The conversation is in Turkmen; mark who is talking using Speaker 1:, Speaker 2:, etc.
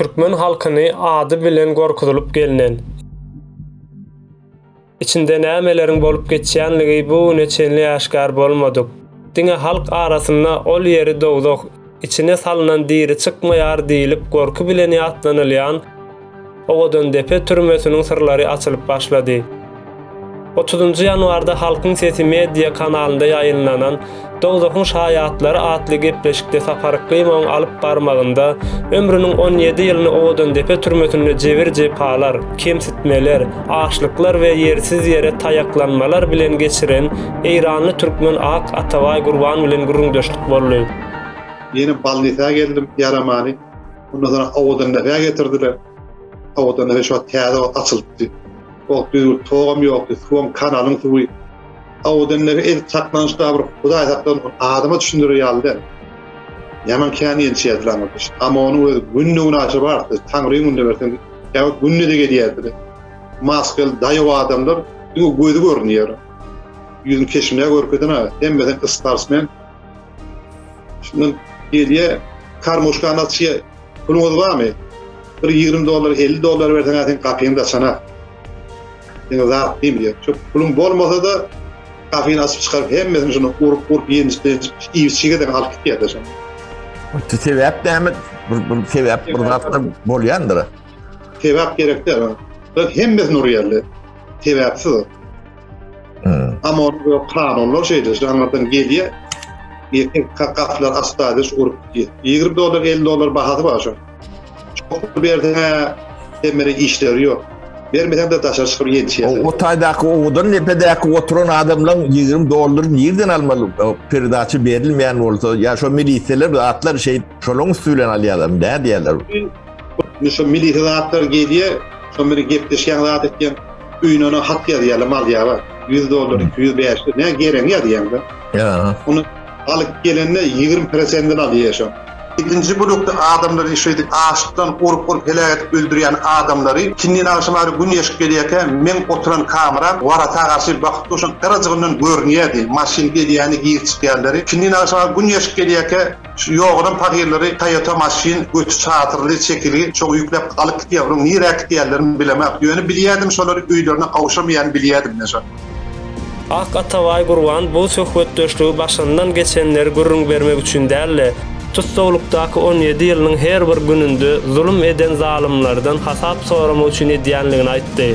Speaker 1: türkmen halkyny ady bilen gorkuzylyp gelnen, içinde nämeleriň bolup geçýänligi bu güne çenli äşgär bolmadyk, diňe halk arasynda ol ýeri dowzah, içine salnan diri çykmaýar diýlip gorky bilen ýatlanylýan Owadandepe türmesiniň syrlary açylyp başlady. Otuzynjy ýanwarda Halkyň sesi media kanalynda ýaýynlanan Dowzahyň şaýatlary atly gepleşikde Sapar Ykymowyň alyp barmagynda ömrüniň on ýedi ýylyny Owadandepe türmesinde jebir-jepalar, kemsitmeler, açlyklar we ýersiz ýere taýaklanmalar bilen geçiren eýranly türkmen Ak Atabaý Gurban bilen gürrüňdeşlik boldy. Ýene
Speaker 2: balnisa geldim, ýaramany. Ondan soň Awadan näsä getirdiler. Awadan näsä şu wagt täze wagt açylypdy. O wagt düzgün togam ýokdy, suwam kanalyň suwy. Awadan näsä edil çaklanyş bar bir Hudaý saklan adama düşündirer ýaly däl. Ýaman kän ençýärdiler aňyrda şi. Amma onuň özi günde-günaşa bardy. Taňryň günde bersen, kä wagt günde de gelýärdiler. Maskel daýaw adamlar diňe gözi görünýär. Ýüzüni keşbine görkezen-ä, hemmesi starsmen. Şundan gelýär, karmoşkany açýar. Puluňyz barmy? Bir 20 dollar, 50 dollar berseň, sen gapyňy da açana. Sen zat diýip diýär. Şu puluň bolmasa-da, gapyny açyp çykaryp, hemmesini şunu urup-urup, ýenjip-ýenjip, iýip-içige de alyp gitýär de şonu. Bu
Speaker 3: sebäp näme? Bir, bir sebäp, bir zat da bolýandyr. Sebäp
Speaker 2: gerek däl. Hemmesini urýarlar. Sebäpsiz. Amor we Karonlar şeýle janlardan gelýär. Ýekin kakatlar astadys urup gitýär. 20 dollar, 50 dollar bahasy bar şo. Çok berdiňe demere işleri ýok. Bermesen de daşary çykyp ýetişýär. O taýdaky owadan
Speaker 3: nepedäki oturan adamlaň 20 dollar nirden almaly? Perdaçy berilmeýän bolsa, ýa şo milisiýalar atlar şeý şolaň üstü bilen alýarlar, nä diýerler? Şo
Speaker 2: milisiýalar atlar gelýär, şo meni gepleşýän zat etýän. Öýüne ona hat ýazýarlar, malýa bar. Ýüz dollar, iki ýüz bäş ýüz, näme geregiňi ýazýaňda. Ýa. Ony
Speaker 3: alyp
Speaker 2: gelende ýigrimi prosentini alýar şoň. Ikinji blokda adamlary şeýdip açlykdan urup-urup heläk edip öldürýän adamlary, ikindin agşama gari gün ýeşip gelýärkä, meň oturan kamera warata garşy bakyp durşam, yrajygyndan görünýärdi, maşyn gelýäni, girip çykýanlary. Ikindin agşama gün ýeşip gelýärkä, Şu ýogaram pagyrlary Toyota maşyn göti çadyrly çekilgi şoňa ýükläp alyp gitýär onuň nirä gitýänlerini bilemok ýöne bilýädim şolar öýlerine gowşamaýany bilýädim men şony. Ak
Speaker 1: Atabaý Gurban bu söhbetdeşligi başyndan geçenleri gürrüň bermek üçin dälde, tussaglykdaky on ýedi ýylynyň her bir gününde zulum eden zalymlardan hasap soramak üçin edýänligini aýtdy.